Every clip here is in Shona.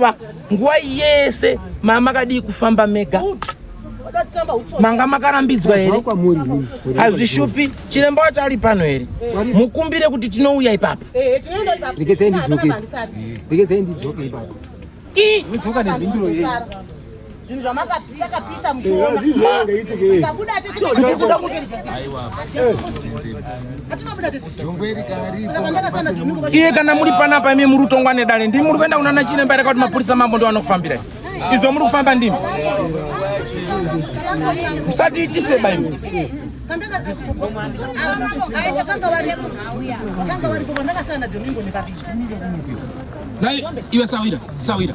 Baba, nguva yese mama makadii kufamba mega manga makarambidzwa here hazvishupi chiremba wacho ari pano here mukumbire kuti tinouya ipapo zvinhu zvamakapisa mushona tikabuda tese iye kana muri panapa imi muri kutongwa nedare ndimi muri kuenda kunana chiremba reka kuti mapurisa mambo ndo anokufambira izvo muri kufamba ndimi musati itise baimi iwe sawira sawira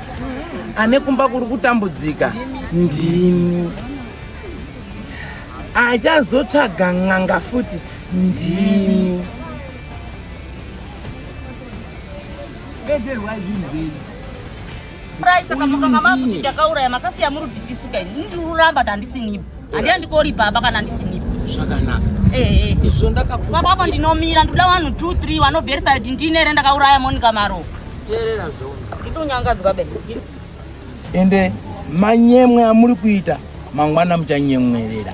ane kumba kuri kutambudzika ndimi achazotsvaga n'anga futi ndimi ndakauraya makasiya muri kuti tisuka ini ndiruramba tandisinipo Handiandikori baba kana ndisinipo. Zvakanaka. Eh eh. Izvo ndakakusiya. Baba apa ndinomira ndoda vanhu 2 3 vano verify kuti ndine here ndakauraya Monica Maro. Teerera zvono. Nditonyangadzwa be. Ende manyemwe amuri kuita mangwana muchanyemwerera.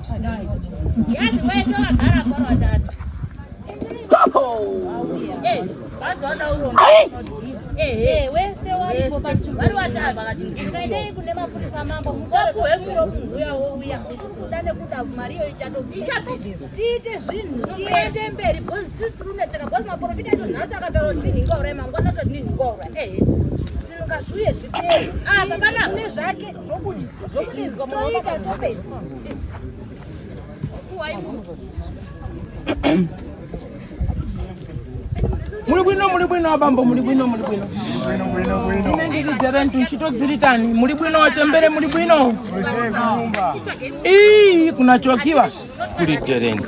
Yazi wese wagara paro atatu. Eh, vazoda uromo. Eh, eh, wese waripo pacho. Vari watatu vakati. Ndikaitei kune mapurisa mambo mutore kuwe muro munhu uya wouya. Usikuda nekuda mari iyo ichatobi. Ichabizi. Tiite zvinhu tiende mberi because titunetseka because maprofita edu nhasi akataura kuti ndinhu ingaura mangwana toti ndinhu ingaura. Eh. Zvinhu ngazviuye zvipere. Ah, baba na. Nezvake. muri bwino muri bwino abambo muri bwino muri bwino ine ndiri dherenti uchitodziritani muri bwino wachembere muri bwino ii kuna chokiwa kuri dherenti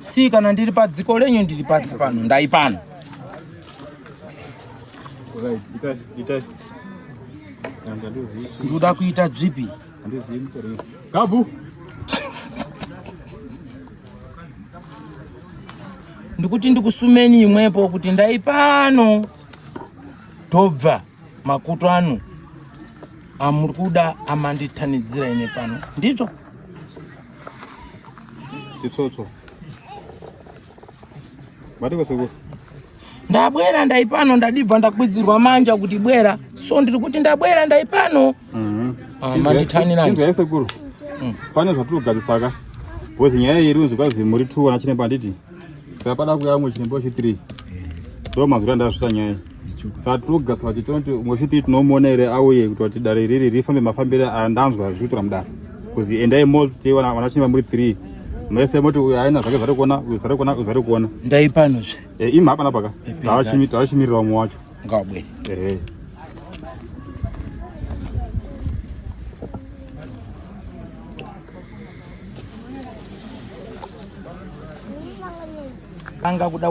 Si kana ndiri padziko lenyu ndiri pasi pano ndai pano. Ndoda kuita zvipi? Gabu. Ndikuti ndikusumeni imwepo kuti ndai pano tobva makutu ano amuri kuda amanditanidzira ine pano ndizvo Chitsotso. Matiko sekuru. Ndabwera ndaipano ndadibva ndakwidzirwa manja kuti bwera. So ndiri kuti ndabwera ndaipano. Mhm. Ah, manditani nani. Chinzwa sekuru. Mm. Pane zvatirogadzisa ka. Bozi nyaya iri unzi kwazi muri 2 ana chine banditi. Saka pada kuya mu chine boshi 3. Ndo mazura ndazvita nyaya. Satuga sati tonti mwechipi tinomuona ere auye kuti wati dare riri rifambe mafambire andanzwa zvichitora mudare kuzi endai moti vanachimba muri three mese moti uyu aina zvake zvati kuona uyu zvati kuona uyu zvati kuona ndai pano zve e, eh, imi hapana paka tavashimirira umwe wacho ngabwe ehe eh. anga kuda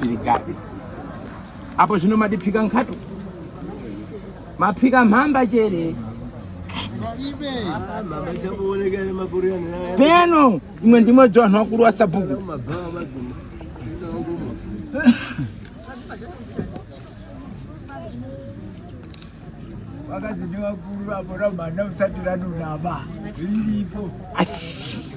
Pirigadi. Apo zvino matiphika nkhato. Maphika mhamba chere. Peno imwe ndimwe dzoanhu wakuru wa sabhuku. Vakazidi vakuru apo ramhana usati ranunama. Riripo. Asi.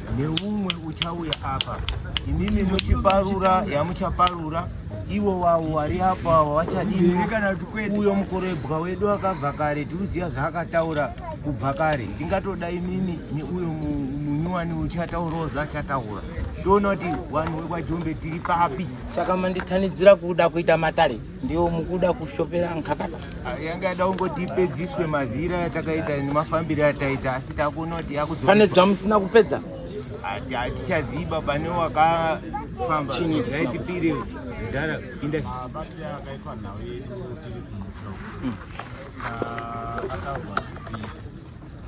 neumwe uchauya apa imimi muchiparura yamuchaparura ivo wavo wari apo avo vachadii uyo mukorebwa wedu akabva kare tikuziva zvaakataura kubva kare ndingatoda imimi neuyo munyuwani uchataurawo zvaachataura toona kuti vanhu vekwajombe tiri papi saka manditanidzira kuda kuita matare ndiwo mukuda kushopera nkakata yanga yada kungoti ipedziswe mazira yatakaita nemafambiro ataita asi takuona kuti yakudzo pane zvamusina kupedza hatichaziba pane wakafamba zvaitipiri mudhara inda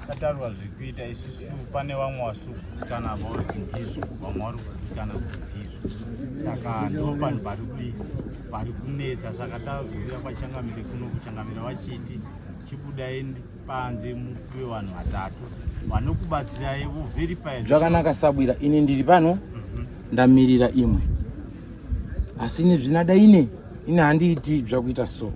Tatarwa zvekuita isusu pane vamwe vasukutsikana vavo ndizvo vamwe vari kutsikana ndizvo saka ndo vanhu vari kui vari kunetsa saka tazouya kwachangamire kuno kuchangamira vachiti chibudai panze mupiwe vanhu vatatu vanokubatsirai voverify zvakanaka sabwira ini ndiri pano mhm. ndamirira imwe asi nezvinada ine ine handiiti zvakuita soo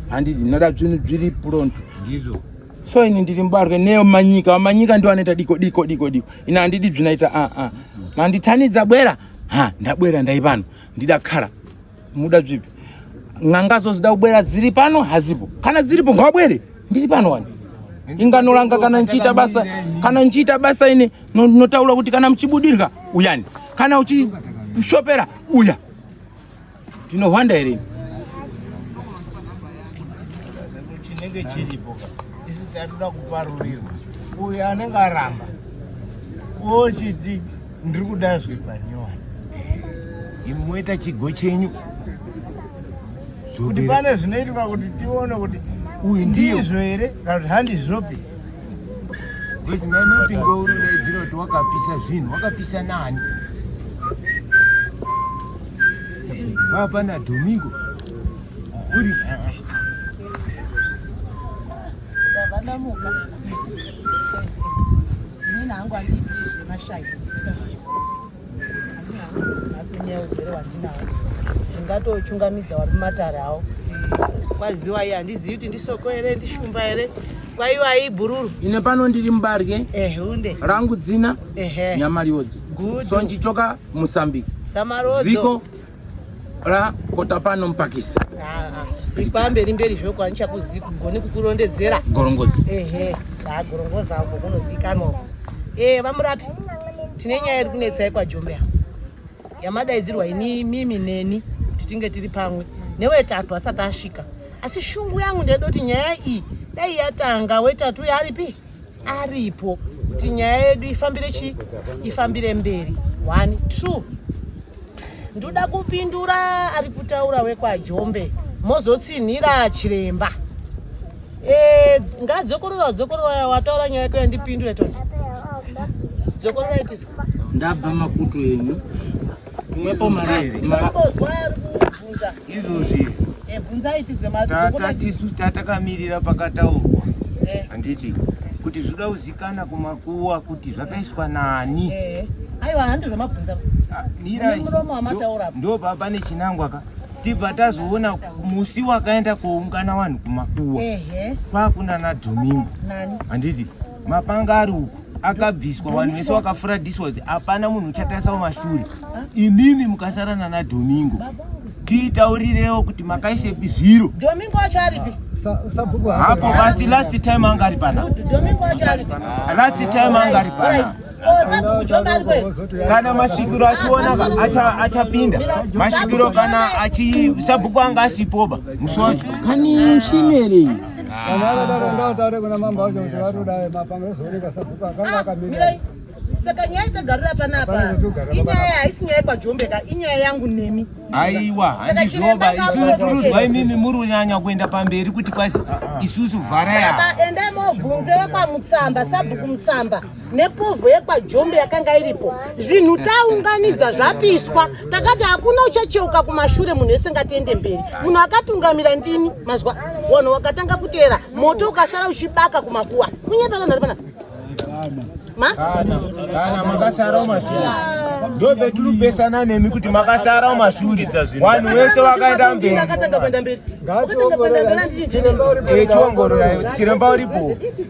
handidi ndada zvinhu zviri pronto ndizvo so ini ndiri mubarwe neo manyika vamanyika ndo anoita diko diko diko diko ini handidi bzinaita aa ah, ah. manditanidza bwera ha ndabwera ndai pano ndida kara muda bzipi n'anga zozida kubwera dziri pano hazipo kana dziripo ngawabwere ndiri pano wani inganoranga kana ndichiita basa kana ndichiita basa ini notaura kuti kana muchibudirwa uyani kana uchishopera uya Tinohwanda here? Chinenge chiripo isi tatoda kuparurirwa. Uyu anenge aramba ochiti ndiri kuda zvepanyowani. Imi moita chigo chenyu kuti pane zvinoitika kuti tione kuti uyu ndizvo here kana kuti handizvopi kuti mai mapingo uri daidzira kuti wakapisa zvinhu wakapisa nani Hapana Domingo. Uri. Ndavana muka. Mimi nangu anditi zvemashaya. Ndatochungamidza wari matare awo. Kwaziwa iya ndizivi kuti ndisoko here ndishumba here kwaiwa ibhururu ine pano ndiri mubarye ehunde rangu dzina ehe nyamariodzi sonjichoka Musambiki. Samarodzo. Ziko ra kotapano mpakisi. Ah, ah. Ipambe rimberi zvoko ancha kuziko goni kukurondedzera. Gorongozi. Ehe. Ah, gorongozi apo kunozikanwa. Eh, vamurapi. Tine nyaya iri kunetsa kwa Jombe. Yamadaidzirwa ini mimi neni titinge tiri pamwe. Newe tatu asati asvika. Asi shungu yangu ndedoti nyaya iyi dai yatanga wetatu yaripi? aripo kuti nyaya yedu ifambire chi ifambire mberi one two ndoda kupindura ari kutaura wekwajombe mozotsinhira chiremba e, ngadzokorora dzokorora wataura nyaya yako yandipindure toni dzokorora itizwa ndabva makutu enyu mwepo mari izvozvi eh, tatakamirira pakataurwa eh. handiti kuti zvoda kuzikana kumakuwa kuti zvakaiswa nani eh. aiwa handi zvamabvunza ah, muromo wamataura ndo baba nechinangwa ka tibva tazoona musi wakaenda koungana vanhu kumakuwa kwakunana domingo handiti mapanga ari uku akabviswa vanhu vese vakafuradiswa kuti hapana munhu uchatarisa mumashure imimi mukasara nana domingo tiitaurirewo kuti makaisepi zviro domingo acho aripi hapo basi last time anga ari pana last time anga ari pana kana masvikiro achiona achapinda masvikiro kana sabhuku anga asipoba musi wacho kani shimeri saka nyaya itagarira panapa inyaya haisi nyaya kwajombeka inyaya yangu nemi aiwa handizvoba isusu kurudzwa imimi muri kunyanya kuenda pamberi kuti kwasi isusu vharaya endai mobvunze vekwamutsamba sabhuku mutsamba nepovho yekwajombe yakanga iripo zvinhu taunganidza zvapiswa takati hakuna uchacheuka kumashure munhu ese ngatiende mberi munhu akatungamira ndini mazwa wanhu wakatanga kuteera moto ukasara uchibaka kumakuwa kunyepera nhari pana ndobvetiri kupesana nemi kuti makasara mashure vanhu vese vakaenda mberi tichiongororai tichiremba uripo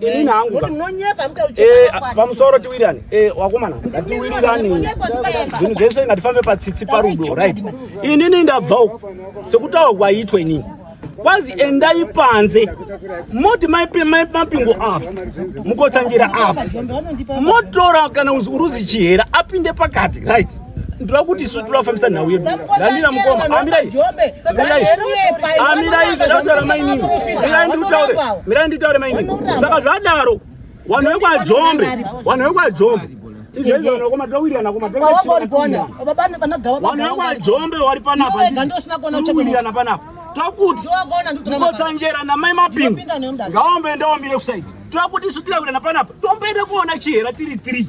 inini hangu eh, pamusoro tiwirirane eh, wakomana ngatiwirirane zvinhu zvese ngatifambe patsitsi parudo right inini ndabva uko sekutaurwa kwaitwa inini kwazi endai panze moti mapingo apa mukotsanjera apa motora kana uruzi chihera apinde pakati right ndinoda kuti isu tinoda kufambisa nhau yedu handina mukoma amirai amirai ndakutaura mainini mirai ndikutaure mirai nditaure mainini saka zvadaro vanhu vekwajombe vanhu vekwajombe vanhuvekwajombe wari panapandowirana panapa tokuti kotsanjera namai mapingu ngaombe ndaomire kusaidi tokuti isu tirawirana panapa tomboenda kuona chihera tiri three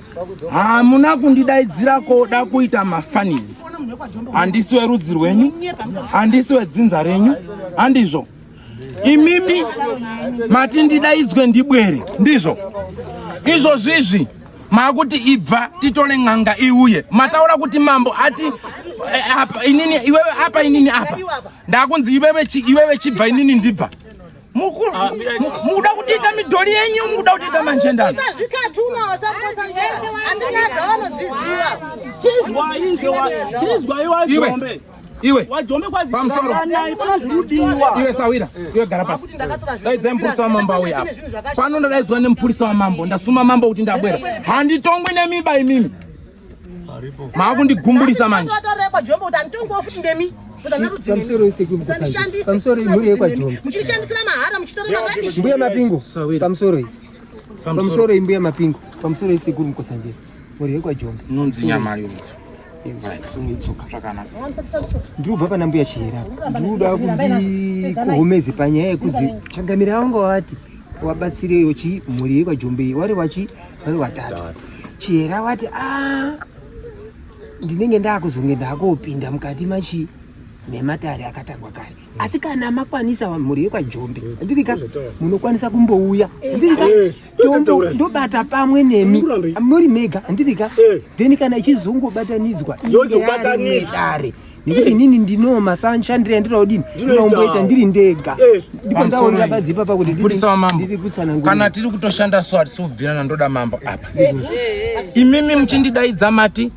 hamuna kundidaidzira koda kuita mafanizi handisi werudzi rwenyu handisi wedzinza renyu handizvo imimi mati ndidaidzwe ndibwere ndizvo izvozvizvi maakuti ibva titore n'anga iuye mataura kuti mambo ati eh, apa inini iwewe apa inini apa ndakunzi iwewe chibva inini ndibva Ah, mukuda kutiita midhori yenyu mukuda kutiita manjendano iwe iwe sawira iwe gara pasi daidzai mupurisa wamambo auya apa pano ndadaidzwa nemupurisa wamambo ndasuma mambo kuti ndabwera handitongwi nemiba imimi maakundigumburisa manje muchirishandisira mahara muchitora marabish mbuya mapingo pamusoro iyi pamusoro iyi mbuya mapingo pamusoro iyi sekuru mukosanjera mhuri yekwajombe inonzi nyama yomudzo ndiri kubva pana mbuya chihera ndiri kuda kuti kuhomeze panyaya yekuzi changamira wangu wati wabatsireyo chi mhuri yekwajombe wari wachi vari vatatu chihera vati a ah, ndinenge ndaakuzonge ndaakopinda mukati machi nematare akatangwa kare mm. asi kana makwanisa mhuri yekwajombe mm. ndirika munokwanisa kumbouya eh, ndirika eh, eh, ndobata pamwe nemi muri mega ndirika then kana ichizongobatanidzwa yozobatanidzare nekuti inini ndinoma shandiro yandinoda kudini ndinomboita ndiri ndega eh. ndipo ndaonera badzi ipapa kuti ndiri kutsanangura kana tiri kutoshanda so hatisi kubvirana ndoda mambo apa eh, eh, imimi muchindidaidza mati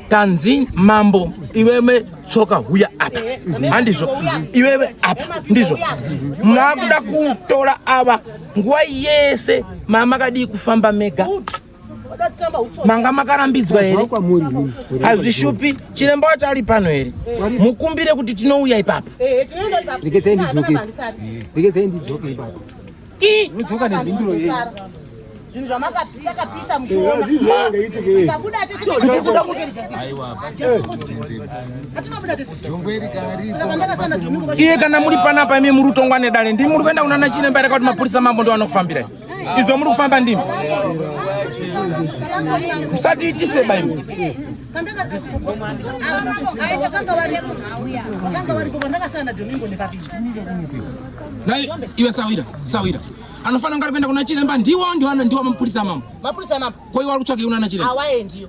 tanzi mambo iwewe tsoka huya apa handizvo iwewe apa ndizvo mwakuda kutora ava nguva yese mamakadii kufamba mega manga makarambidzwa here hazvishupi chiremba wacho ari pano here mukumbire kuti tinouya ipapo zvinhu zvamakapisa mushonaiye kana muri panapa imi muri kutongwa nedare ndii muri kuenda kunana chiremba rekauti mapurisa mambo ndovanokufambirai idzo muri kufamba ndimi musatiitise baibo iwe sawira sawira anofanira kunge ari kuenda kuna chiremba ndiwo ndiwo mapurisa mambo mapurisa mambo koiwa ari kutsvaka iuna na chiremba awaendiyo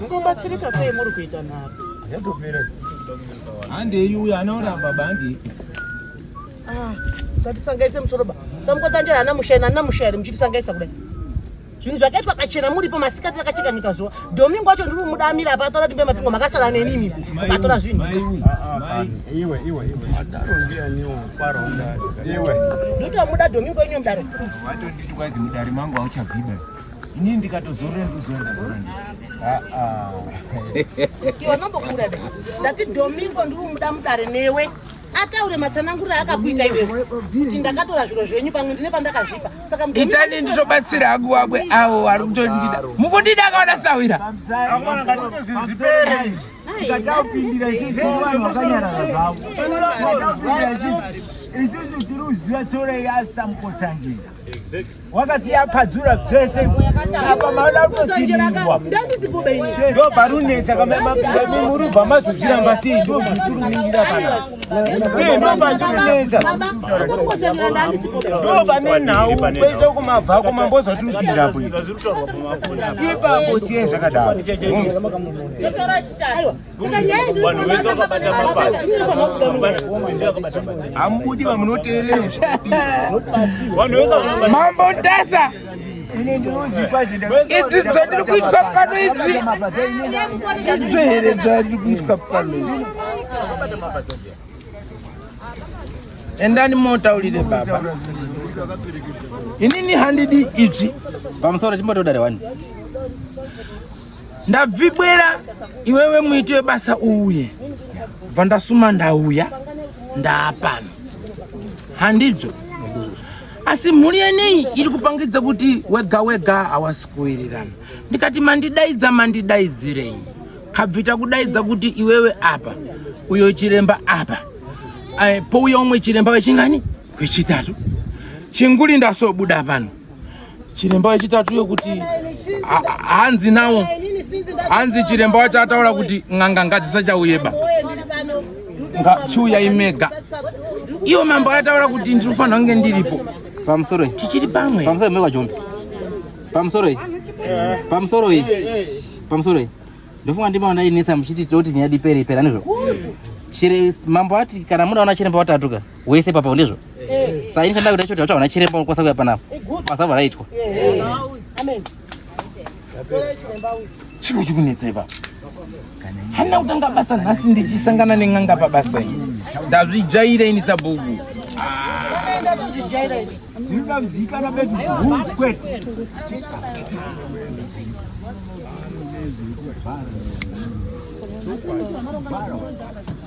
Mungobatsirika sei muri kuita nharo? Yatopera. Handei uya anaona baba handei. Ah, satisangaise musoro ba. Samukotsanjera ana mushaina ana mushairi muchitisangaisa kudai. Zvinhu zvakaitwa kachena muripo masikati rakacheka nyika zuva. Domingo wacho ndiri kumuda amira apa atora timbe mapingo makasara neni imi. Atora zvinhu. Mai iwe. Mai iwe iwe iwe. Adaro ndiye niwo kwaro ndari. Iwe. Ndotomuda Domingo inyo mdaro. Wato nditwa dzimudari mangu auchabviba. Ini ndikatozorora ndozorora zvorora. Ah ah. Iwe nombokura be. Ndati Domingo ndiri muda mudare newe. Ataure matsanangura akakuita iwe. Kuti ndakatora zviro zvenyu pamwe ndine pandakazvipa. Saka mudare. Itani nditobatsira hangu wabwe awo ari kutondida. Mukundida kaona sawira. Amwana ngatozizipere izvi. Ndikatapindira izvi vanhu vakanyara zvavo. Ndikatapindira izvi. Isusu tiri kuziva tsore yasamukotsangira. wakasiya padzura zvese apa maoda kutosindirwa ndo parunetsa kamamapirami muri ubva mazozviramba sei ndo zvitiriningira kana ee ndo pandinonetsa ndo pane nhau kwese kumabva kumambo zvatiripinda bwe ipapo siye zvakadaro hamudi vamunoteereramambo ntasa idzi dzandiri kuitwa pano idzi idzo here dzandiri kuitwa pano endani motaurire baba inini handidi idzvi pamusoro chimbotodare wani ndabvibwera iwewe muiti webasa uye bva ndasuma ndauya ndaapano handidzo asi mhuri yenei iri kupangidza kuti wega wega hawasi kuwirirana ndikati mandidaidza mandidaidzirei kabvita kudaidza kuti iwewe apa uyo chiremba apa eh, pouya umwe chiremba wechingani wechitatu chinguri ndasobuda pano chiremba yechitatu yokuti hanzi nawo hanzi chiremba wacho ataura kuti n'anga ngadzisachauyeba chiuyai mega iwo mambo ataura kuti ndiri kufanira kunge ndiripo pamusoro tichiri pamwe pamusoro mekwa jombe pamusoro iyi pamusoro iyi pamusoro iyi ndofunga ndimaona ndinetsa muchiti toti nyaya dipere ipera nezvo mambo ati kana muda ona chiremba watatuka wese papa ndizvo eh. saini shandai kuda choti vatsvagwa nachiremba unokwasa kuya panapa basa varaitwa eh, eh. chiro chikunetsa ipapa hana kutanga basa nhasi ndichisangana nen'anga pabasa iyi ndazvijaira ini sabhuku ndingaziikana betu kwete Thank you.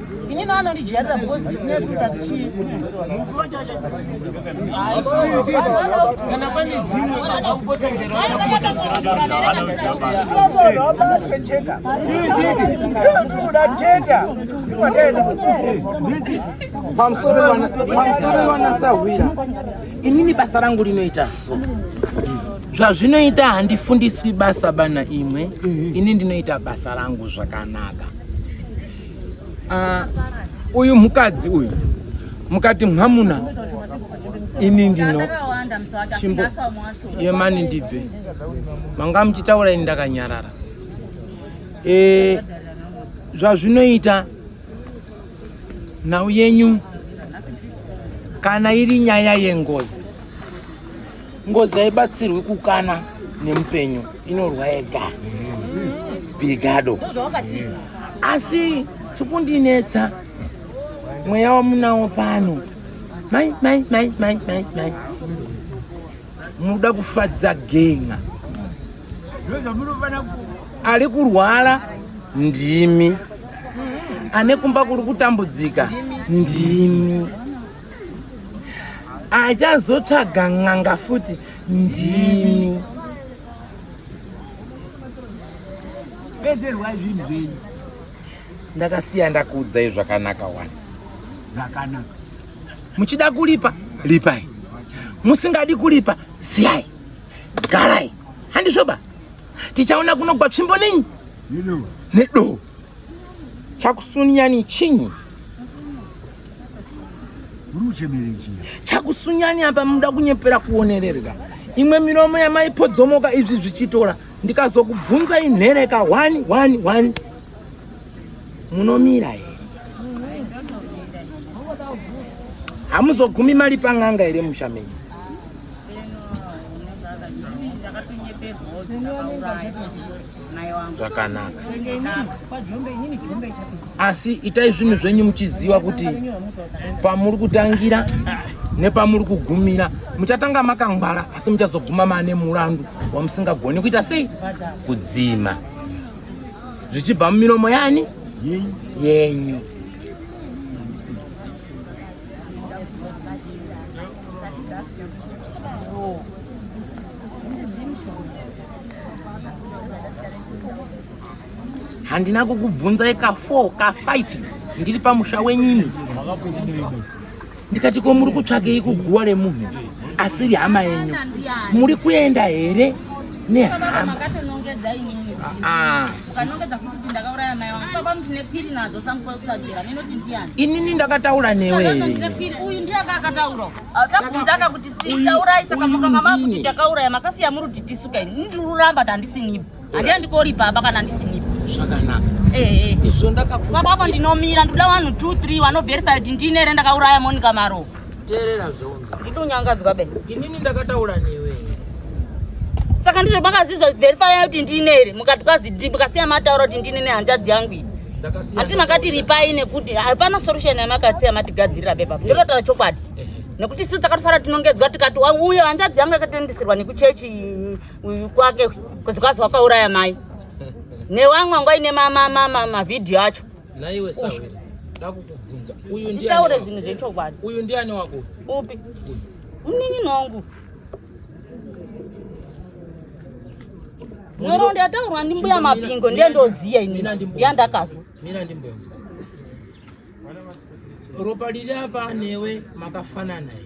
ini no anondijairira because nesu tatichii kana pane dzimwe abatwe cheta ndikuda cheta pamusoro vanasahwira inini basa rangu rinoita so zvazvinoita handifundiswi basa bana imwe ini ndinoita basa rangu zvakanaka Ah, uyu mukadzi uyu mukati mwamuna ini ndino chimbo yemani ndibve manga muchitaura ini ndakanyarara e, zvazvinoita nhau yenyu kana iri nyaya yengozi ngozi haibatsirwi kukana nemupenyu inorwa yega bigado asi chikundinetsa mweya wamunawo pano mai mai mai mai mai mai munoda kufadza genga ari kurwara ndimi ane kumba kuri kutambudzika ndimi achazotsvaga n'anga futi ndimi bedzerwai zvinhu zvenyu ndakasiya ndakuudzai zvakanaka wani zvakanaka muchida kulipa lipai musingadi kulipa siyai garai handizvoba tichaona kunogwa tsvimbo nenyi nedoo chakusunyani chinyi chakusunyani apa muda kunyepera kuonererwa imwe miromo yamaipodzomoka izvi zvichitora ndikazokubvunza inhereka one one one munomira here hamuzogumi mari pan'anga here musha menyu zvakanaka asi itai zvinhu zvenyu muchiziva kuti pamuri kutangira nepamuri kugumira muchatanga makangwara asi muchazoguma maane murandu wamusingagoni kuita sei kudzima zvichibva mumiromo yani yenyu handina kukubvunzai ka 4 ka 5 ndiri pamusha wenyini ndikati ko muri kutsvakei kuguwa remunhu asiri hama yenyu muri kuenda here nehama ah, ah. ukanongedza futi kuti ndakauraya mai wangu baba muti nepiri nadzo sanguva yekutsvagira nenoti ndiyani inini ndakataura newe here uyu ndiye aka akataura akabvunza aka kuti tikaurayi saka mukanga makuti takauraya makasiya muri kuti tisuka ini ndiri kuramba kuti handisinipo handiya ndikori baba kana handisinipo zvakanaka izvo ndakakusiya baba apo ndinomira ndikuda vanhu two three vanoverifa kuti ndine here ndakauraya monika maro teerera zvondo ndidi unyangadzwa be inini ndakataura newe saka ndizvo makazizwa verifaya kuti ndine here mukati kwazidi mukasiya mataura kuti ndine nehanzvadzi yangu iyi hati makati ripai nekuti hapana solution yamakasiya matigadzirira bepa ndototaura chokwadi nekuti sisi takatosara tinongedzwa tikati uyo hanzvadzi yangu yakatendisirwa nekuchechi kwake kuzi kwazi wakauraya mai newamwe angu aine mavhidhiyo acho Naiwe sahwira ndakukubvunza uyu ndiani? Taure zvinhu zvechokwadi. Uyu ndiani wako? Upi? Mnini nongu. Nhoroondo yataurwa ndimbuya Mapingo ndiye ndoziya ini yandakazwa. Mina ndimbuya. Ropa lili apa newe makafanana here?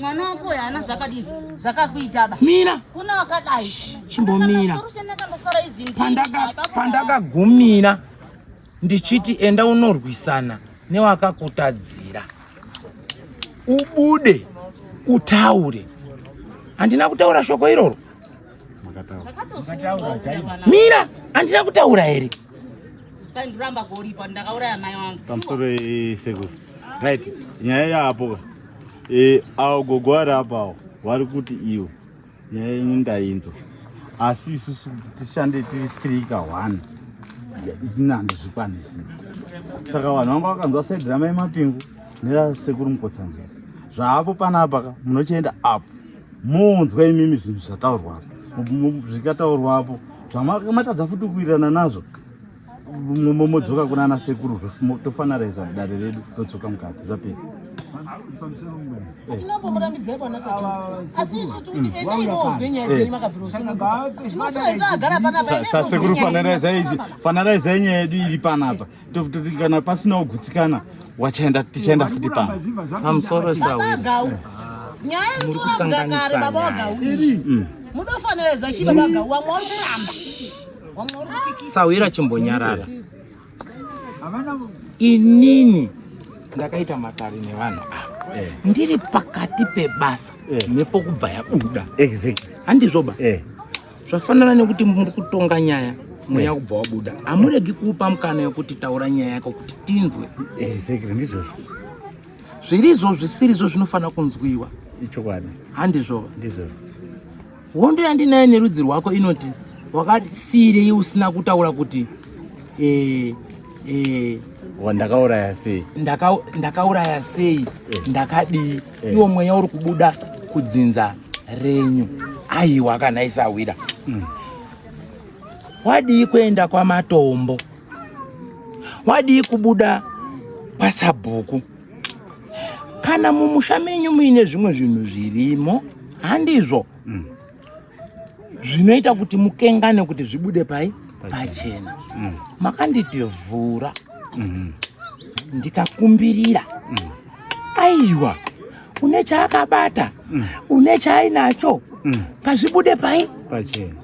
mwana wako uyu haana zvakadini zvakakuita ba mira kuna wakadai chimbomira pandakagumira ndichiti enda unorwisana newakakutadzira ubude utaure handina kutaura shoko iroro mira handina kutaura here pamusoro sekuru right nyaya yaapoka Eh, awo gogo vari apawo vari kuti iwe nyaya yenyu ndainzwa asi isusu kuti tishande tiri three ka one isina handizvikwanisi saka vanhu vanga vakanzwa sedrama yemapingu nerasekuru mukotsanzira zvaapo panapa ka munochienda apo munzwa imimi zvinhu zvataurwapo zvikataurwapo zvamatadza futi kuwirirana nazvo momodzoka kuna ana sekuru tofanaraiza dare redu todzoka mukati zvapera sasekuru fanaraizai nyaya yedu iri panapa kana pasina kugutsikana wachaenda tichaenda futi pano nyaya iritorambudakare baba wagauiri mudofanira zachiva vagau wamwe wari kuramba sahwira chimbonyarara inini ndakaita matare nevanhu ava eh. ndiri pakati pebasa eh. nepokubva yabuda handizvoba eh. zvafanana nekuti muri kutonga nyaya mweya kubva wabuda hamuregi kuupa mukana yokuti taura nyaya yako kuti tinzwe zvirizvo zvisirizvo zvinofanira kunzwiwa ichokwadi handizvova ndizvozvo hondo yandinayo nerudzi rwako inoti wakasiirei usina kutaura kuti eh, eh, ndakauraya sei ndakauraya sei eh. ndakadii eh. iwo mweya uri kubuda kudzinza renyu aiwa kana isawira mm. wadii kuenda kwamatombo wadii kubuda kwasabhuku kana mumusha menyu muine zvimwe zvinhu zvirimo handizvo mm. zvinoita kuti mukengane kuti zvibude pai pachena mm. makanditivhura mm-hmm. ndikakumbirira mm. aiwa une chaakabata mm. une chaainacho ngazvibude pai pachena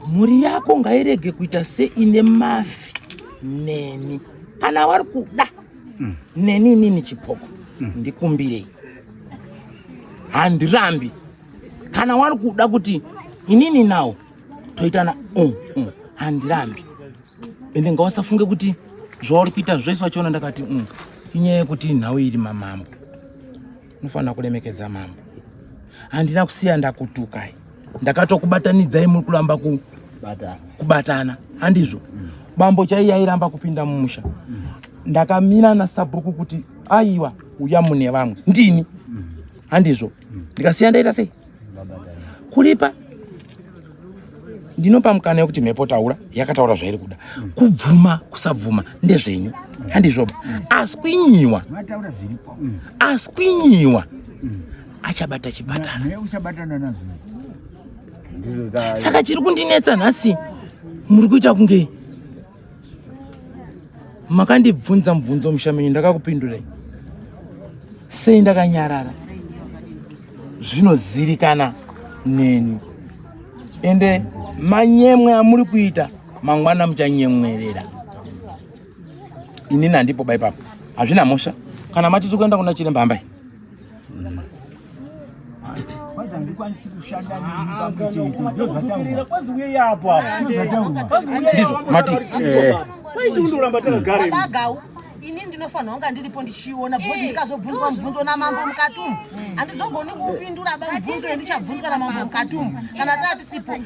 mhuri yako ngairege kuita seine mafi neni kana vari kuda mm. neni inini chipoko mm. ndikumbirei handirambi kana wari kuda kuti inini nawo toitana um, um, handirambi ende ngawasafunge kuti zvauri kuita zvese wachiona ndakati um, inyaya yekuti nhau iri mamambo Unofanira kuremekedza mambo. Handina kusiya ndakutukai. Ndakatokubatanidzai muri kuramba ku kubatana. Handizvo. Mm. Bambo chaiye airamba kupinda mumusha. Mm. Ndakamira nasabhuku kuti aiwa uya mune vamwe. Ndini. Mm. Handizvo. Ndikasiya ndaita sei? kulipa ndinopa mukana yekuti mhepo taura yakataura zvairi kuda kubvuma kusabvuma ndezvenyu handizvoba aswinyiwa aswinyiwa achabata chipatara saka chiri kundinetsa nhasi muri kuita kunge makandibvunza mubvunzo musha menyu ndakakupindurei sei ndakanyarara zvinozirikana neni ende manyemwe amuri kuita mangwana muchanyemwerera inini handipo baipapo hazvina mhosva kana matiti kuenda kuna chiremba hambai kwanza ndikwanisi kushanda neniakutukirira kwanzi uye yapo apomati kwaiti undoramba takagareagau ini ndinofanira kunga ndiripo ndichiona bcause eh, ndikazobvunzwa mubvunzo namambo mukati umu handizogoni kuupindura ba mubvunzo yendichabvunzwa namambo mukati umu kana tatisipo